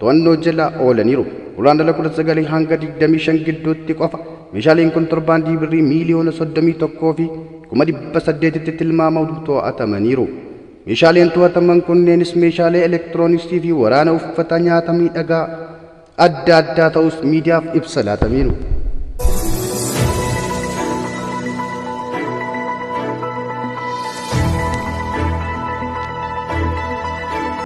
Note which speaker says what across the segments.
Speaker 1: to'annoo jala oolaniiru. Guraandhala 19 hanga 25 gidduutti qofa meeshaaleen kontorbaandii birrii miiliyoona 31 fi kuma 800tti tilmaamamu to'atamaniiru. Meeshaaleen to'ataman kunneenis meeshaalee elektirooniksii fi waraana uffata nyaata miidhagaa adda addaa ta'us miidiyaaf ibsa laataniiru.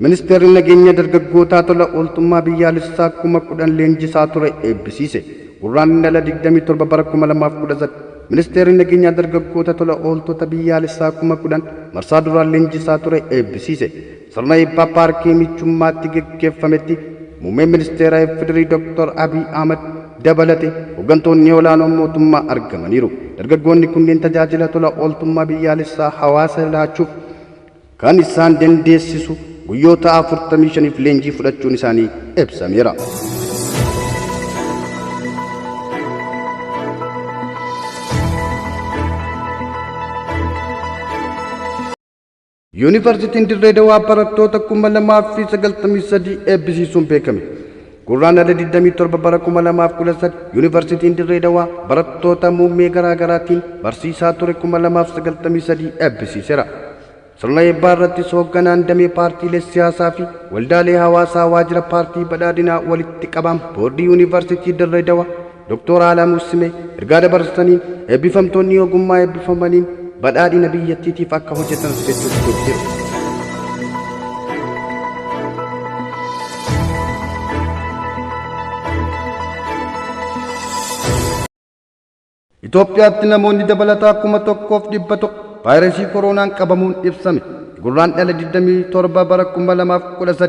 Speaker 1: Ministeerri nageenya dargaggootaa tola ooltummaa biyyaalessaa kuma kudhan leenjisaa ture eebbisiise. Gurraan dhala 27 bara 2019 Ministeerri nageenyaa dargaggoota tola ooltota biyyaalessaa kuma kudhan marsaa duraan leenjisaa ture eebbisiise. Sirna eebbaa paarkii michummaatti geggeeffametti Muummeen Ministeera FDRI Dr. Abiy Ahmad dabalate hoggantoonni olaanoon mootummaa argamaniiru. Dargaggoonni kunneen tajaajila tola ooltummaa biyyaalessaa hawaasa laachuuf kan isaan dandeessisu guyyoota 45f leenjii fudhachuun isaanii ibsameera. Yuunivarsiitiin Dirree Dawaa barattoota 2093 eebbisiisuun beekame. Gurraandhala 27 bara 2013 Yuunivarsiitiin Dirree Dawaa barattoota muummee garaa garaatiin barsiisaa ture 2093 eebbisiiseera. Sirna eebbaa irrattis hoogganaan damee paartiilee siyaasaa fi waldaalee hawaasaa waajjira paartii badhaadhinaa walitti qabaan boordii Yuunivarsiitii Dirree Dawaa Doktoor Alamuu Simee ergaa dabarsaniin, eebbifamtoonni ogummaa eebbifamaniin badhaadhina biyyattiitiif akka hojjetanis jechuun dubbatu. Itoophiyaatti namoonni dabalataa kuma tokkoof dhibba tokko vaayirasii koroonaan qabamuun ibsame. Gurraan dhala 27 bara 2013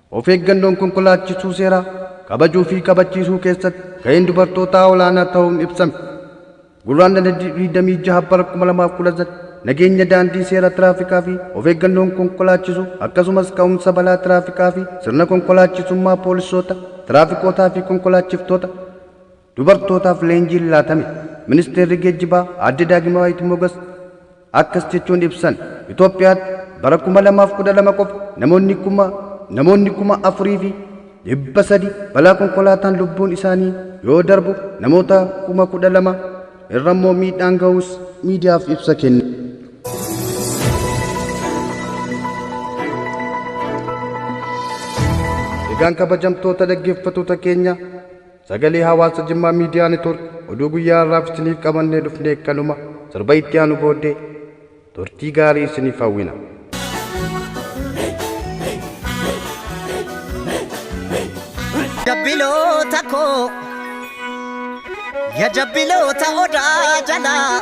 Speaker 1: Of eeggannoon konkolaachisuu seeraa kabajuu fi kabachiisuu keessatti gaheen dubartootaa olaanaa ta'uun ibsame. Gurraandhala 26 bara 2013 nageenya daandii seera tiraafikaa fi of eeggannoon konkolaachisuu akkasumas ka'umsa balaa tiraafikaa fi sirna konkolaachisummaa poolisoota, tiraafikootaa fi konkolaachiftoota Dubartootaaf leenjiin laatame. Ministeerri Geejjibaa Aadde Daagimawaayit Mogas akkas jechuun ibsan, Itoophiyaatti bara 2012 qofa namoonni kuma namoonni 4,300 balaa konkolaataan lubbuun isaanii yoo darbu namoota 12,000 irra immoo miidhaan ga'uus miidiyaaf ibsa kenna. Egaan kabajamtoota dhaggeeffattoota keenya Sagalee Hawaasa Jimmaa Miidiyaa Network oduu guyyaa har'aaf isiniif qabannee dhufne kanuma torba itti aanu booddee turtii gaarii isiniif hawwina.
Speaker 2: jabbiloota koo ya jabbiloota odaa jalaa